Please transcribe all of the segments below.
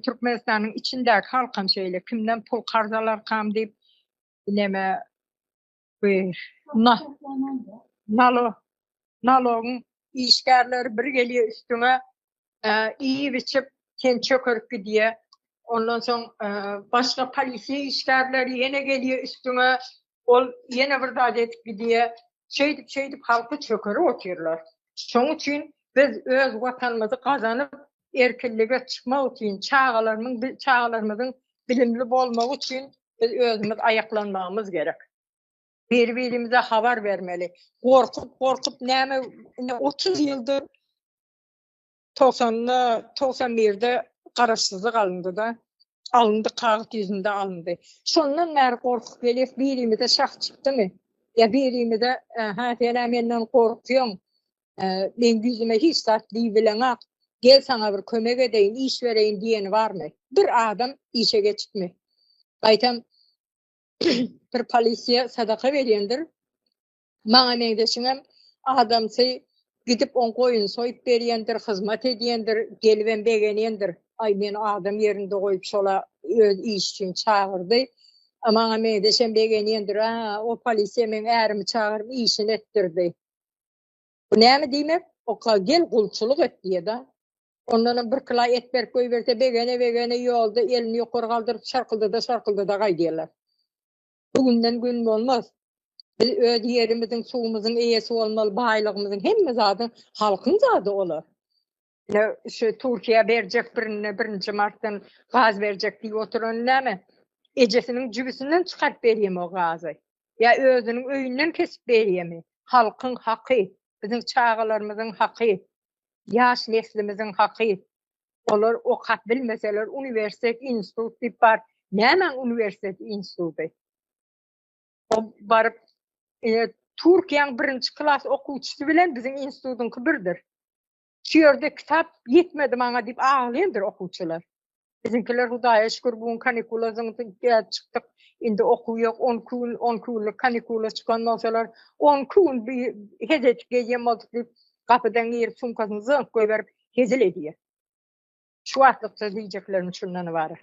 Türkmenistanyň içindäki halkam şeýle kimden pul karz alarkam diýip neme bu nalo nalogyň işgärleri bir gelýär üstüňe iýip-içip sen çökerip gidýär. Ondan soň başga polisiýa işgärleri ýene gelýär üstüňe ol ýene bir zat edip gidýär. şeýdip şeýdip halky çökerip otyrlar. Şoň üçin biz öz watanymyzy gazanyp erkinlige çykmak üçin çagalarymyň çagalarymyzyň bilimli bolmagy üçin biz özümiz aýaklanmagymyz gerek. Biri birimize habar bermeli. Gorkup gorkup näme indi 30 ýyldyr Togsanda, togsan birde garaşsyzlyk alyndy-da. Alyndy, kagyz ýüzünde alyndy. Şondan bäri gorkup gelýäs, birimize şah çykdymy? Ýa birimize, Hä, sen-ä menden gorkýaň. Meň ýüzüme hiç zat diýibileňok. Gel, saňa bir kömek edeýin, iş bereýin diýeni barmy? Bir adam işe geçipmi? Gaýtam, bir polisiýa sadaka berýändir. Maňa meňzeşiňem adamsy gidip on goýun soýup berýändir, hyzmat edýändir, gelibem begenýändir. Aý men adam ýerinde goýup şola öz iş üçin çagyrdy. Maňa meňzeşem begenýändir. A, o polisiýa meň ärimi çagyryp işini etdirdi. Bu näme diýmek? Oka gel gulçulyk et diýeda. Ondanam bir kila et berip goýberse begene-begene ýolda elini ýokary galdyryp şarkyldada-şarkyldada gaýdýarlar. Bu günden gün bolmaz. Biz öz ýerimiziň, suwumyzyň eýesi bolmaly, baýlygymyzyň, hemme zadyň halkyň zady olar. Ine, şu Türkiýe berjek birine birinji martdan gaz berjek diýip oturan näme? Ejesiniň jübüsinden çykaryp berýärmi o gazy? Ýa özüniň öýünden kesip berýärmi? Halkyň haky, biziň çagalarymyzyň haky, ýaş neslimiziň haky. Olar okap bilmeseler uniwersitet institut diýip bar. Nämäň uniwersitet instituty? O baryp e, Türkiýäň birinji klas okuwçysy bilen biziň institutyňky birdir. Şu ýerde kitap ýetmedi maňa diýip aglaýandyr okuwçylar. Biziňkiler Hudaýa şükür bu gün kanikula çykdyk. Indi okuw ýok. 12 gün 12 günlük kanikula çykan bolsalar, 12 gün bir hezet gezýän boldyk diýip, gapydan girip sumkasyny zyňyp goýberip, hezil edýär. Şu wagtlykça diýjeklerim şundan ybarat.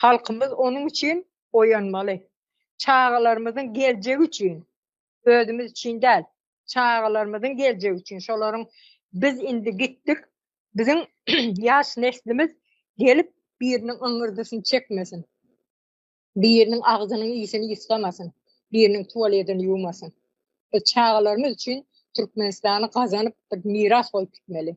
Halkymyz onuň üçin oýanmaly. Çagalarymyzyň geljegi üçin, özümiz üçin däl, çagalarymyzyň geljegi üçin, şolaryň biz indi gitdik, biziň ýaş neslimiz gelip biriniň yňňyrdysyny çekmesin. Biriniň agzynyň ýüsüni ýusgamasyn, biriniň tuwaledini ýuwmasyn. Biz çagalarymyz üçin Türkmenistany gazanyp bir miras goýup gitmeli.